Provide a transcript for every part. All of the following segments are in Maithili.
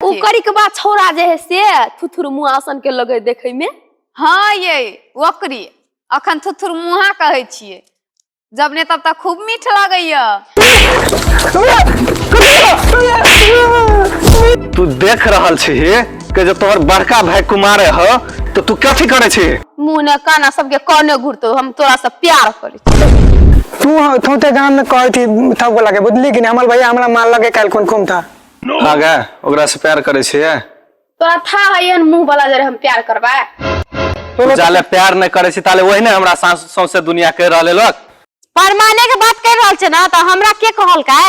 ओ के करी के बाद छौड़ा जे है से थुथुर मुआसन के लगे देखे में हँ यै ओकरी अखन थुथुर मुहा कहै छियै जब ने तब तक खूब मीठ लगैया तू देख रहल छी कि जो तोहर बड़का भाई कुमार ह तो तू कथी करे छी मुंह ने काना सबके काने घुरतो हम तोरा से प्यार करी तू तू ते गांव में कहै थी थक लगे बुझली कि नहीं हमार भैया हमरा मार लगे कल कौन कौन था हाँ गे ओकरा से प्यार करे छे तोरा था है एहन मुंह वाला जरे हम प्यार करबा तू जाले प्यार नहीं करे छी ताले वही ने हमरा सास सौंसे दुनिया कह रहले लोग परमाने के बात कर रहल छे ना त हमरा के कहल का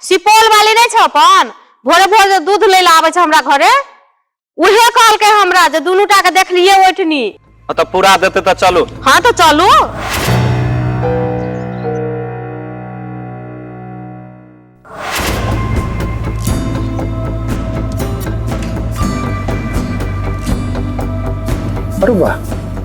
सुपौल वाली नहीं छे अपन भोरे भोरे दूध ले ला आवे छे हमरा घरे उहे कहलकै हमरा जे दुनू टा के देखलिए ओठनी हाँ तो पूरा देते तो चलो हाँ तो चलू अरे वाह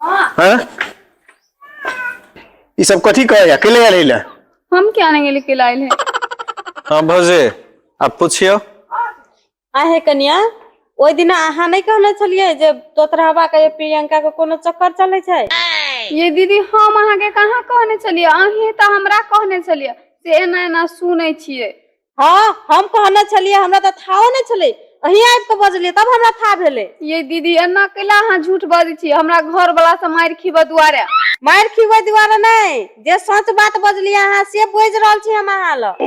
हाँ ई सब कथी कहे या केले आले ले हम क्या नहीं लेके लाए हैं हाँ भौजी आप पूछियो आहे कन्या ओहि दिना अहाँ नहि कहने छलियै जे तोतरहबा के प्रियंका के कोनो चक्कर चलै छै ये दीदी हम अहाँ के कहाँ कहने छलियै अहीं तऽ हमरा कहने छलियै से एना एना सुनै छियै हँ हम कहने छलियै हमरा तऽ थाहो नहि छलै अहीं आबि कऽ बजलियै तब हमरा था भेलै ये दीदी एना कैला अहाँ झूठ बजै छी हमरा घर वाला से मारि खीबऽ दुआरे मारि खीबै दुआरे नहि जे सच बात बजलियै अहाँ से बुझि रहल छी हम अहाँ लग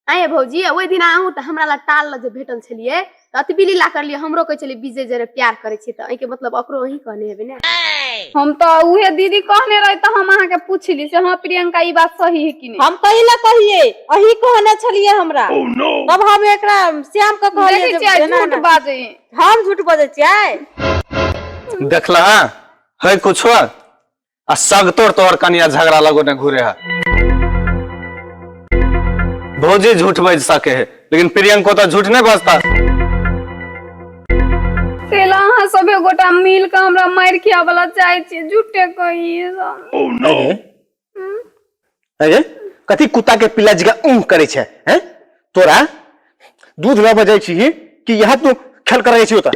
आँय भौजी ओहि दिन अहूँ तऽ हमरा लग टाल लऽ जे भेटल छलियै तऽ अतबी लीला करलियै हमरो कहै छलियै विजय जरे प्यार करै छियै तऽ एहिके मतलब ओकरो अहीं कहने हेबै ने हम तऽ उहे दीदी कहने रही तऽ हम अहाँके पूछली से हाँ प्रियंका ई बात सही है कि नहीं हम कहीं ना कहिए अही कहने छलिए हमरा तब हम एकरा श्याम के कहलिए देखै जे छियै जेना झूठ ना- बाजै है। हम झूठ बजै छियै देखला है कुछो आ सगतोर तोहर कनिया झगड़ा लगो ने घूरे है भौजी झूठ बज सके है लेकिन प्रियंको तो झूठ नहीं बजता तेला अहाँ सभे गोटा मिल के हमरा मार खिया वाला चाहे छी झूठे कही अरे कथी कुत्ता के पिल्ला जगह ऊँह करे छे हैं तोरा दूध लऽ बजै छी कि यहाँ तू खेल करै छी ओतऽ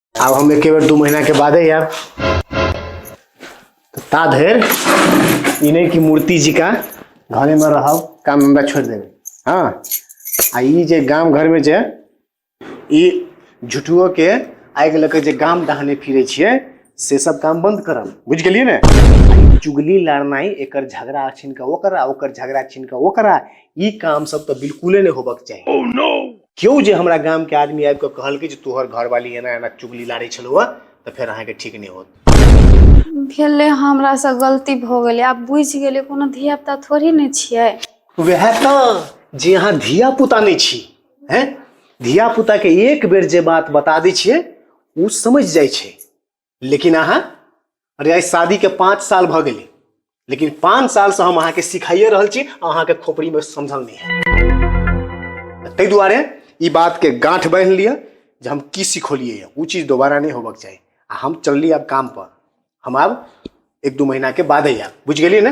आब हम एके बेर दू महीना के बादे आयब तऽ ता धरि ई नहि कि मूर्ति जी का घरे में रहब काम धंधा छोड़ देबै हाँ आ ई जे गाम घर में जे ई झुठुओ के आगि लऽ के जे गाम डहाने फिरे छियै से सब काम बंद करब बुझि गेलियै ने आ ई चुगली लड़नाइ एकर झगड़ा छिन के ओकरा ओकर झगड़ा छिन के ओकरा ई काम सब तऽ बिल्कुले नहि होबक चाही केओ जे हमरा गामके आदमी आबि कऽ कहलकै जे तोहर घरवाली एना एना चुगली लाड़ै छलहुँ हँ तऽ फेर अहाँके ठीक नहि होत भेलै हमरासँ गलती भऽ गेलै आब बुझि गेलै कोनो धियापुता थोड़ी ने छियै वएह तऽ जे अहाँ धिया पुता नहि छी हैं धिया पुताके एक बेर जे बात बता दै छियै ओ समझ जाइ छै लेकिन अहाँ अरे आइ शादीके पाँच साल भऽ गेलै लेकिन पाँच सालसँ हम अहाँके सिखाइए रहल छी अहाँके खोपड़ीमे समझल नहि है ताहि दुआरे ई बातके गाँठ बान्हि लिअ जे हम की सिखौलिए यऽ ओ चीज दोबारा नहि होबक चाही आ हम चलली आब कामपर हम आब एक दू महीनाके बादे आयब बुझि गेलियै ने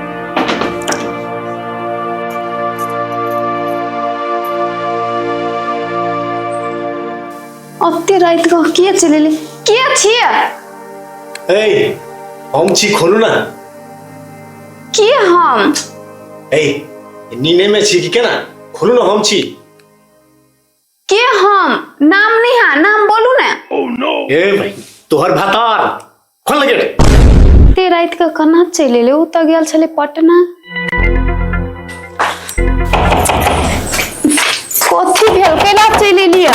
ओते राति कऽ के चलि एलै के छियै ए हम छी खोलू ना के हम ए नीने में छी कि केना खोलू ना हम छी के हम नाम नहीं है नाम बोलू ने ए भाई तोहर भातार खोल गेट ते रात के कना चले ले उ त गेल छले पटना कथी भेल कैला चले लिया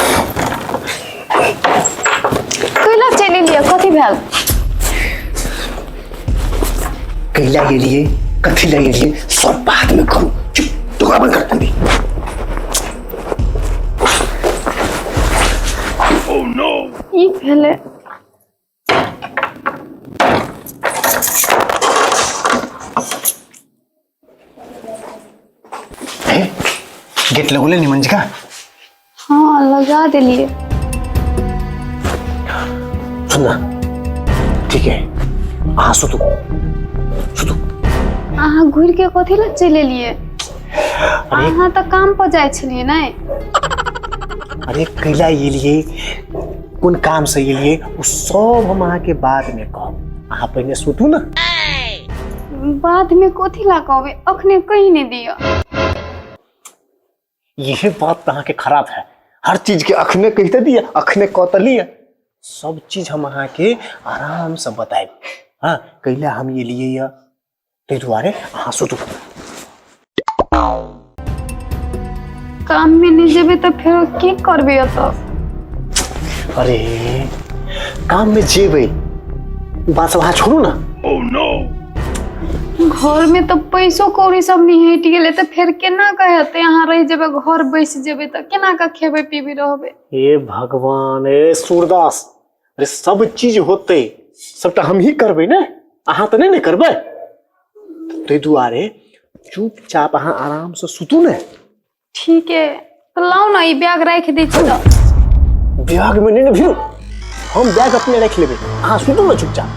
कैला चले लिया कथी भेल कैला के लिए कथी लगे लिए सब बाद में करू चुप दुकान बंद कर दे ई भेलै गेट लगौले निमन जी का हाँ लगा देलिए सुनना ठीक है अहाँ सुतू सुतू अहाँ घुर के कथी लग चले लिए अरे अहाँ तऽ काम पर जाइ छलिए ने अरे कैला एलिए कोन काम से एलिए ओ सब हम अहाँ के बाद में कहब अहाँ पहिने सुतू ना बाद में कथी ला कहबे अखने कही ने दियो यही बात तऽ अहाँ के खराब है हर चीज के अखने कहते दिए अखने कह तऽ लिए सब चीज हम अहाँ के आराम से बताएब हाँ कैला हम एलिए या ताहि दुआरे अहाँ सुतू काम में नहीं जेबे तो फिर की करबे तो अरे काम में जेबै ओ बात सब अहाँ छोड़ू ने घर में तो पैसो कौड़ी सब नहीं हट गेले तो फिर केना के हेते यहाँ रह जेबे घर बैस जेबे तो केना के खेबे पीबे रहबे हे भगवान हे सूरदास अरे सब चीज होते सबटा हमही करबै ने अहाँ तऽ नहि ने करबै ताहि दुआरे चुपचाप अहाँ आरामसँ सुतू ने ठीक है तो लाओ ना ये बैग रख दी छी तो बैगमे नहि ने भिरू हम बैग अपने राखि लेबै अहाँ सुतू ने चुपचाप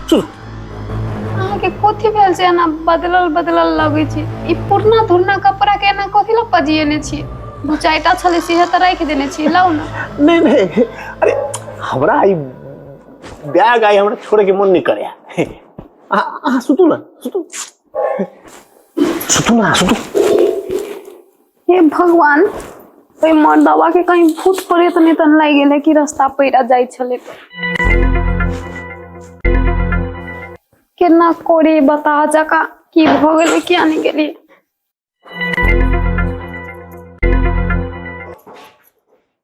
सुतू अहाँके कथी भेल छै एना बदलल बदलल लगै छै ई पुरना धुरना कपड़ा के एना कथी लए पजियेने छी दू चारिटा छलै सेहे तऽ राखि देने छी लाउ ने नहीं नहीं अरे हमरा ई बैग आई हमरा छोड़े के मन नहीं करे अहाँ अहाँ सुतू ना सुतू सुतू ना सुतू हे भगवान ओहि मर्दवा के कहीं भूत प्रेत नहीं तन लाग गेल है कि रास्ता पैरा जाइ छले तो केना कोरी बता जका की भ गेल किया नहीं गेली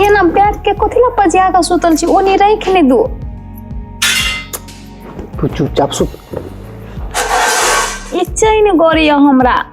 एना बैठ के कथी ला पजिया के सुतल छी ओनी राख ने दो तू चुपचाप सुत ई चैन गड़िया हमरा